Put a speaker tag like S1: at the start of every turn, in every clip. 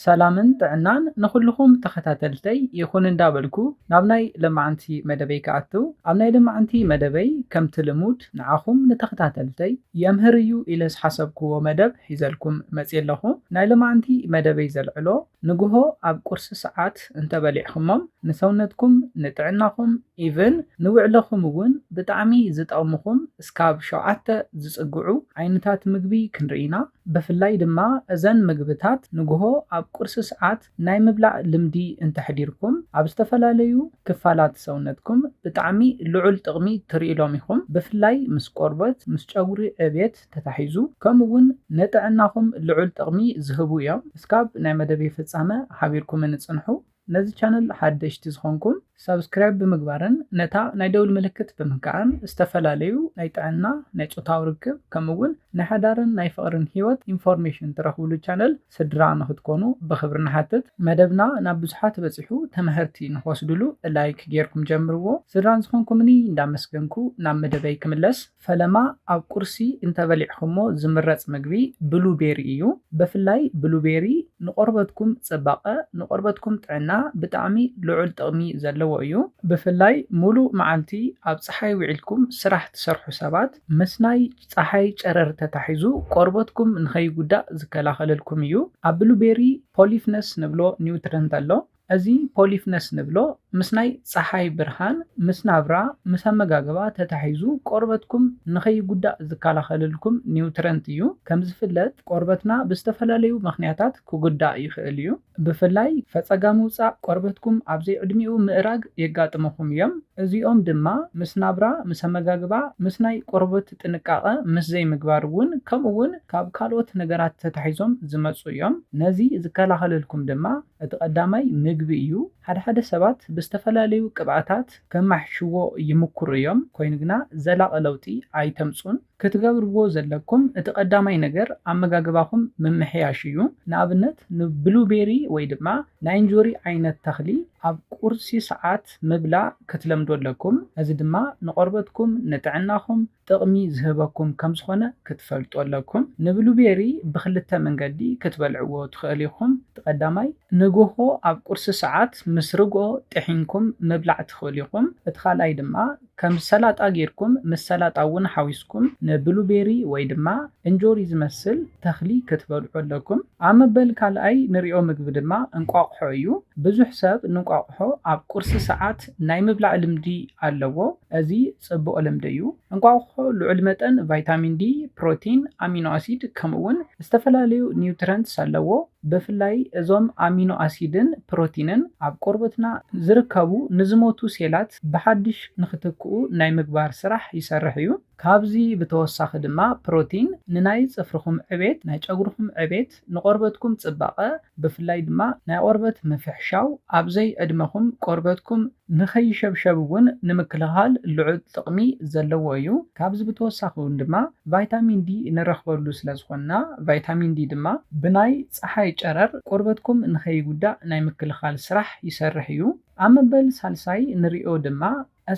S1: ሰላምን ጥዕናን ንኹሉኹም ተኸታተልተይ ይኹን እንዳበልኩ ናብ ናይ ለማዓንቲ መደበይ ክኣትው ኣብ ናይ ለማዓንቲ መደበይ ከምቲ ልሙድ ንዓኹም ንተኸታተልተይ የምህር እዩ ኢለ ዝሓሰብኩዎ መደብ ሒዘልኩም መፅየ ኣለኹ ናይ ለማዓንቲ መደበይ ዘልዕሎ ንጉሆ ኣብ ቁርሲ ሰዓት እንተበሊዕኹሞም ንሰውነትኩም ንጥዕናኹም even ንውዕሎኹም እውን ብጣዕሚ ዝጠቕሙኹም እስካብ ሸውዓተ ዝፅግዑ ዓይነታት ምግቢ ክንርኢ ኢና። ብፍላይ ድማ እዘን ምግብታት ንጉሆ ኣብ ቁርሲ ሰዓት ናይ ምብላዕ ልምዲ እንተሕዲርኩም ኣብ ዝተፈላለዩ ክፋላት ሰውነትኩም ብጣዕሚ ልዑል ጥቕሚ ትርኢሎም ኢኹም ብፍላይ ምስ ቆርበት ምስ ጨጉሪ ዕብየት ተታሒዙ ከምኡ ውን ንጥዕናኹም ልዑል ጥቕሚ ዝህቡ እዮም እስካብ ናይ መደበይ ፍፃመ ሓቢርኩምኒ ፅንሑ። ነዚ ቻነል ሓደሽቲ ዝኾንኩም ሳብስክራይብ ብምግባርን ነታ ናይ ደውል ምልክት ብምንካዕን ዝተፈላለዩ ናይ ጥዕና ናይ ጾታዊ ርክብ ከምኡ እውን ናይ ሓዳርን ናይ ፍቕርን ህይወት ኢንፎርሜሽን ትረኽብሉ ቻነል ስድራ ንኽትኮኑ ብኽብሪ ንሓትት። መደብና ናብ ብዙሓት በጺሑ ተመሀርቲ ንኽወስድሉ ላይክ ጌርኩም ጀምርዎ። ስድራን ዝኾንኩምኒ እንዳመስገንኩ ናብ መደበይ ክምለስ። ፈለማ ኣብ ቁርሲ እንተበሊዕኹሞ ዝምረጽ ምግቢ ብሉ ቤሪ እዩ። በፍላይ ብሉ ቤሪ ንቆርበትኩም ጽባቀ ንቆርበትኩም ጥዕና ብጣዕሚ ልዑል ጥቅሚ ዘለዎ እዩ። ብፍላይ ሙሉእ መዓልቲ ኣብ ጸሓይ ዊዒልኩም ስራሕ ትሰርሑ ሰባት ምስ ናይ ጸሓይ ጨረር ተታሒዙ ቆርበትኩም ንከይጉዳእ ዝከላኸለልኩም እዩ። ኣብ ብሉ ቤሪ ፖሊፍነስ ንብሎ ኒውትረንት ኣሎ። እዚ ፖሊፍነስ ንብሎ ምስ ናይ ጸሓይ ብርሃን፣ ምስ ናብራ፣ ምስ ኣመጋግባ ተታሒዙ ቆርበትኩም ንኸይጉዳእ ዝከላኸልልኩም ኒውትረንት እዩ። ከምዝፍለጥ ቆርበትና ብዝተፈላለዩ ምኽንያታት ክጉዳእ ይኽእል እዩ። ብፍላይ ፈጸጋ ምውጻእ ቆርበትኩም ኣብ ዘይዕድሚኡ ምእራግ የጋጥሙኹም እዮም። እዚኦም ድማ ምስ ናብራ፣ ምስ ኣመጋግባ፣ ምስ ናይ ቆርበት ጥንቃቐ ምስ ዘይምግባር እውን ከምኡውን ካብ ካልኦት ነገራት ተታሒዞም ዝመጹ እዮም። ነዚ ዝከላኸልልኩም ድማ እቲ ቀዳማይ ምግቢ እዩ። ሓደ ሓደ ሰባት ብዝተፈላለዩ ቅብኣታት ከማሕይሽዎ ይምኩሩ እዮም፣ ኮይኑ ግና ዘላቂ ለውጢ ኣይተምጹን። ክትገብርዎ ዘለኩም እቲ ቀዳማይ ነገር ኣመጋግባኹም ምምሕያሽ እዩ። ንኣብነት ንብሉቤሪ ወይ ድማ ናይ እንጆሪ ዓይነት ተኽሊ ኣብ ቁርሲ ሰዓት ምብላ ክትለምዱ ኣለኩም። እዚ ድማ ንቆርበትኩም፣ ንጥዕናኹም፣ ጥቕሚ ዝህበኩም ከም ዝኾነ ክትፈልጡ ኣለኩም። ንብሉቤሪ ብኽልተ መንገዲ ክትበልዕዎ ትኽእል ኢኹም። እቲ ቀዳማይ፣ ንግሆ ኣብ ቁርሲ ሰዓት ምስ ርግኦ ጥሒንኩም ምብላዕ ትኽእሉ ኢኹም። እቲ ካልኣይ ድማ ከም ሰላጣ ጌርኩም ምስ ሰላጣ እውን ሓዊስኩም ንብሉቤሪ ወይ ድማ እንጆሪ ዝመስል ተኽሊ ክትበልዑ ኣለኩም። ኣብ መበል ካልኣይ ንሪኦ ምግቢ ድማ እንቋቑሖ እዩ። ብዙሕ ሰብ ንቋቑሖ ኣብ ቁርሲ ሰዓት ናይ ምብላዕ ልምዲ ኣለዎ። እዚ ጽቡቕ ልምዲ እዩ። እንቋቑሖ ልዑል መጠን ቫይታሚን ዲ፣ ፕሮቲን፣ ኣሚኖ ኣሲድ ከምኡ'ውን ዝተፈላለዩ ኒውትረንትስ ኣለዎ። ብፍላይ እዞም ኣሚኖ ኣሲድን ፕሮቲንን ኣብ ቆርበትና ዝርከቡ ንዝሞቱ ሴላት ብሓድሽ ንኽትክኡ ናይ ምግባር ስራሕ ይሰርሕ እዩ። ካብዚ ብተወሳኺ ድማ ፕሮቲን ንናይ ጽፍርኹም ዕቤት፣ ናይ ጨጉርኹም ዕቤት፣ ንቆርበትኩም ጽባቐ ብፍላይ ድማ ናይ ቆርበት ምፍሕሻው ኣብ ዘይ ዕድመኹም ቆርበትኩም ንኸይሸብሸብ እውን ንምክልኻል ልዑል ጥቕሚ ዘለዎ እዩ። ካብዚ ብተወሳኺ እውን ድማ ቫይታሚን ዲ ንረኽበሉ ስለዝኾንና ቫይታሚን ዲ ድማ ብናይ ጸሓይ ጨረር ቆርበትኩም ንኸይጉዳእ ናይ ምክልኻል ስራሕ ይሰርሕ እዩ። ኣብ መበል ሳልሳይ ንርእዮ ድማ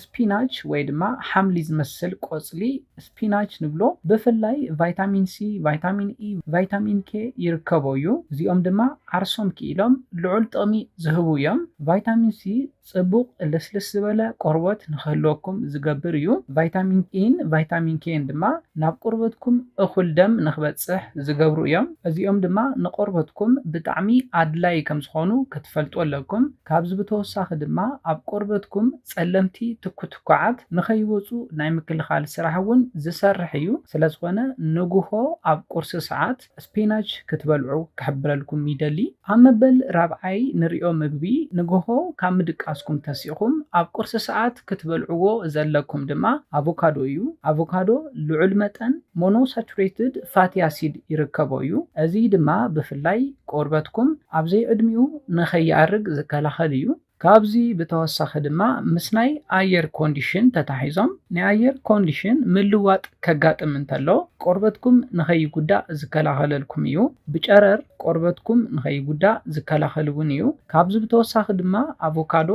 S1: ስፒናች ወይ ድማ ሓምሊ ዝመስል ቆፅሊ ስፒናች ንብሎ ብፍላይ ቫይታሚን ሲ፣ ቫይታሚን ኢ፣ ቫይታሚን ኬ ይርከቦ እዩ። እዚኦም ድማ ዓርሶም ክኢሎም ልዑል ጥቕሚ ዝህቡ እዮም። ቫይታሚን ሲ ፅቡቕ ልስልስ ዝበለ ቆርቦት ንክህልወኩም ዝገብር እዩ። ቫይታሚን ኢን ቫይታሚን ኬን ድማ ናብ ቆርበትኩም እኹል ደም ንክበፅሕ ዝገብሩ እዮም። እዚኦም ድማ ንቆርበትኩም ብጣዕሚ ኣድላይ ከምዝኾኑ ክትፈልጡ ኣለኩም። ካብዚ ብተወሳኺ ድማ ኣብ ቆርበትኩም ፀለምቲ ትኩትኳዓት ንከይወፁ ናይ ምክልኻል ስራሕ እውን ዝሰርሕ እዩ። ስለዝኾነ ንጉሆ ኣብ ቁርሲ ሰዓት ስፒናች ክትበልዑ ክሕብረልኩም ይደሊ። ኣብ መበል ራብዓይ ንሪኦ ምግቢ ንጉሆ ካብ ምድቃስኩም ተሲእኹም ኣብ ቁርሲ ሰዓት ክትበልዕዎ ዘለኩም ድማ ኣቮካዶ እዩ። ኣቮካዶ ልዑል መጠን ሞኖሳቹሬትድ ፋቲ ኣሲድ ይርከቦ እዩ፣ እዚ ድማ ብፍላይ ቆርበትኩም ኣብ ዘይዕድሚኡ ንከይኣርግ ዝከላኸል እዩ። ካብዚ ብተወሳኺ ድማ ምስ ናይ ኣየር ኮንዲሽን ተታሒዞም ናይ ኣየር ኮንዲሽን ምልዋጥ ከጋጥም እንተሎ ቆርበትኩም ንከይጉዳእ ዝከላኸለልኩም እዩ። ብጨረር ቆርበትኩም ንከይጉዳእ ዝከላኸል እውን እዩ። ካብዚ ብተወሳኺ ድማ ኣቮካዶ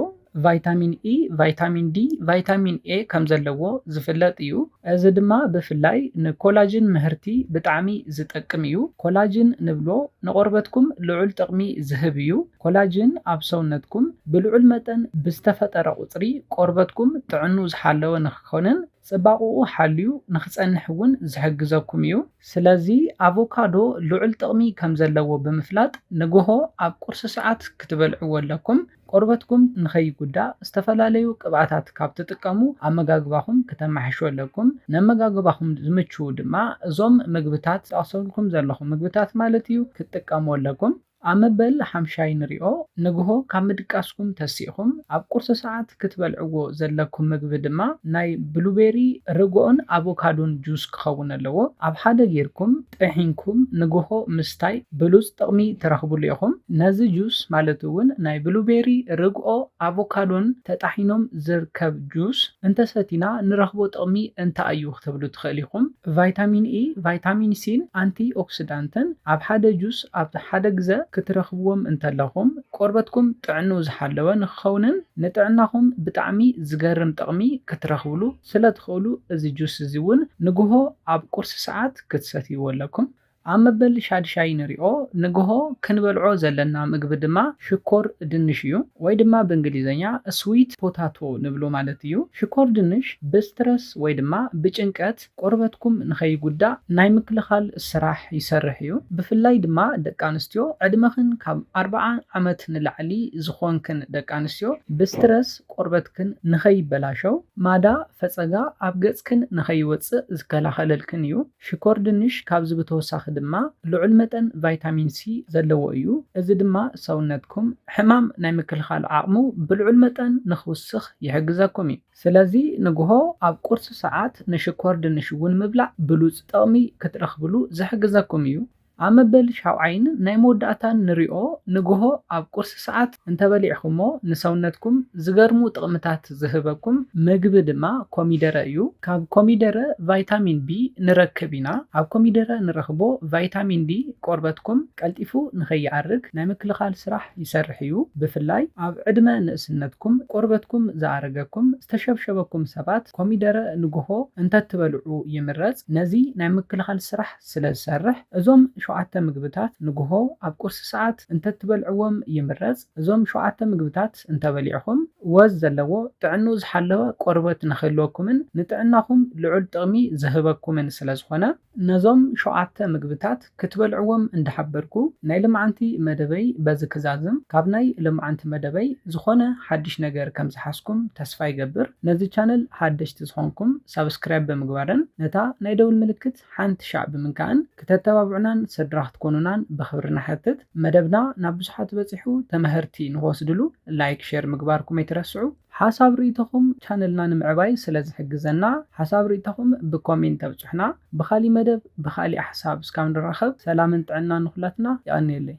S1: ቫይታሚን ኢ፣ ቫይታሚን ዲ፣ ቫይታሚን ኤ ከም ዘለዎ ዝፍለጥ እዩ። እዚ ድማ ብፍላይ ንኮላጅን ምህርቲ ብጣዕሚ ዝጠቅም እዩ። ኮላጅን ንብሎ ንቆርበትኩም ልዑል ጥቕሚ ዝህብ እዩ። ኮላጅን ኣብ ሰውነትኩም ብልዑል መጠን ብዝተፈጠረ ቁፅሪ ቆርበትኩም ጥዕንኡ ዝሓለወ ንክኾንን ፅባቕኡ ሓልዩ ንክፀንሕ እውን ዝሕግዘኩም እዩ። ስለዚ ኣቮካዶ ልዑል ጥቕሚ ከም ዘለዎ ብምፍላጥ ንጎሆ ኣብ ቁርሲ ሰዓት ክትበልዕዎ ኣለኩም። ቆርበትኩም ንኸይጉዳእ ዝተፈላለዩ ቅብኣታት ካብ ትጥቀሙ ኣመጋግባኹም ክተማሕሹ ኣለኩም። ነመጋግባኹም ዝምችዉ ድማ እዞም ምግብታት ዝጠቕሰልኩም ዘለኹ ምግብታት ማለት እዩ ክትጥቀሙ ኣለኩም። ኣብ መበል ሓምሻይ ንሪኦ። ንግሆ ካብ ምድቃስኩም ተሲእኹም ኣብ ቁርሲ ሰዓት ክትበልዕዎ ዘለኩም ምግቢ ድማ ናይ ብሉቤሪ፣ ርግኦን ኣቮካዶን ጁስ ክኸውን ኣለዎ። ኣብ ሓደ ጌርኩም። ጥሒንኩም ንግሆ ምስታይ ብሉጽ ጥቕሚ ትረኽብሉ ኢኹም። ነዚ ጁስ ማለት እውን ናይ ብሉቤሪ፣ ርግኦ፣ ኣቮካዶን ተጣሒኖም ዝርከብ ጁስ እንተሰቲና ንረኽቦ ጥቕሚ እንታይ እዩ ክትብሉ ትኽእል ኢኹም። ቫይታሚን ኢ፣ ቫይታሚን ሲን ኣንቲ ኦክሲዳንትን ኣብ ሓደ ጁስ ኣብ ሓደ ግዘ ክትረኽብዎም እንተለኹም ቆርበትኩም ጥዕንኡ ዝሓለወ ንክኸውንን ንጥዕናኹም ብጣዕሚ ዝገርም ጥቕሚ ክትረኽብሉ ስለ ትኽእሉ እዚ ጁስ እዚ ውን ንግሆ ኣብ ቁርሲ ሰዓት ክትሰትይዎ ኣለኩም። ኣብ መበል ሻድሻይ ንሪኦ ንግሆ ክንበልዖ ዘለና ምግቢ ድማ ሽኮር ድንሽ እዩ። ወይ ድማ ብእንግሊዝኛ ስዊት ፖታቶ ንብሎ ማለት እዩ። ሽኮር ድንሽ ብስትረስ ወይ ድማ ብጭንቀት ቆርበትኩም ንኸይጉዳእ ናይ ምክልኻል ስራሕ ይሰርሕ እዩ። ብፍላይ ድማ ደቂ ኣንስትዮ ዕድመኽን ካብ ኣርብዓ ዓመት ንላዕሊ ዝኾንክን ደቂ ኣንስትዮ ብስትረስ ቆርበትክን ንኸይበላሸው፣ ማዳ ፈጸጋ ኣብ ገጽክን ንኸይወጽእ ዝከላኸለልክን እዩ። ሽኮር ድንሽ ካብዚ ብተወሳኺ ድማ ልዑል መጠን ቫይታሚን ሲ ዘለዎ እዩ፣ እዚ ድማ ሰውነትኩም ሕማም ናይ ምክልኻል ዓቕሙ ብልዑል መጠን ንኽውስኽ ይሕግዘኩም እዩ። ስለዚ ንግሆ ኣብ ቁርሲ ሰዓት ንሽኮር ድንሽ እውን ምብላዕ ብሉጽ ጥቕሚ ክትረኽብሉ ዝሕግዘኩም እዩ። ኣብ መበል ሻውዓይን ናይ መወዳእታን ንሪኦ ንግሆ ኣብ ቁርሲ ሰዓት እንተበሊዕኹሞ ንሰውነትኩም ዝገርሙ ጥቕምታት ዝህበኩም ምግቢ ድማ ኮሚደረ እዩ። ካብ ኮሚደረ ቫይታሚን ቢ ንረክብ ኢና። ኣብ ኮሚደረ ንረኽቦ ቫይታሚን ዲ ቆርበትኩም ቀልጢፉ ንኸይኣርግ ናይ ምክልኻል ስራሕ ይሰርሕ እዩ። ብፍላይ ኣብ ዕድመ ንእስነትኩም ቆርበትኩም ዝኣረገኩም፣ ዝተሸብሸበኩም፣ ሰባት ኮሚደረ ንግሆ እንተትበልዑ ይምረፅ። ነዚ ናይ ምክልኻል ስራሕ። ስለ ዝሰርሕ፣ እዞም ሸውዓተ ምግብታት ንግሆ ኣብ ቁርሲ ሰዓት እንተትበልዕዎም ይምረጽ። እዞም ሸውዓተ ምግብታት እንተበሊዕኹም፣ ወዝ ዘለዎ ጥዕንኡ ዝሓለወ ቆርበት ንኽህልወኩምን ንጥዕናኹም ልዑል ጥቕሚ ዝህበኩምን ስለ ዝኾነ፣ ነዞም ሸውዓተ ምግብታት ክትበልዕዎም እንዳሓበርኩ፣ ናይ ልምዓንቲ መደበይ በዚ ክዛዝም። ካብ ናይ ልምዓንቲ መደበይ ዝኾነ ሓድሽ ነገር ከም ዝሓዝኩም ተስፋ ይገብር። ነዚ ቻነል ሓደሽቲ ዝኾንኩም ሳብስክራይብ ብምግባርን ነታ ናይ ደውል ምልክት። ሓንቲ ሻዕ ብምንካእን ክተተባብዑናን ሰድራ ክትኮኑናን ብክብሪ ንሓትት መደብና ናብ ብዙሓት በጺሑ ተመሀርቲ ንክወስድሉ ላይክ ሼር ምግባርኩም ኣይትረስዑ ሓሳብ ርእይቶኹም ቻነልና ንምዕባይ ስለ ዝሕግዘና ሓሳብ ርእይቶኹም ብኮሜንት ኣብጹሑና ብካሊእ መደብ ብካሊእ ሓሳብ እስካብ ንራኸብ ሰላምን ጥዕናን ንኹላትና የቀንየለይ።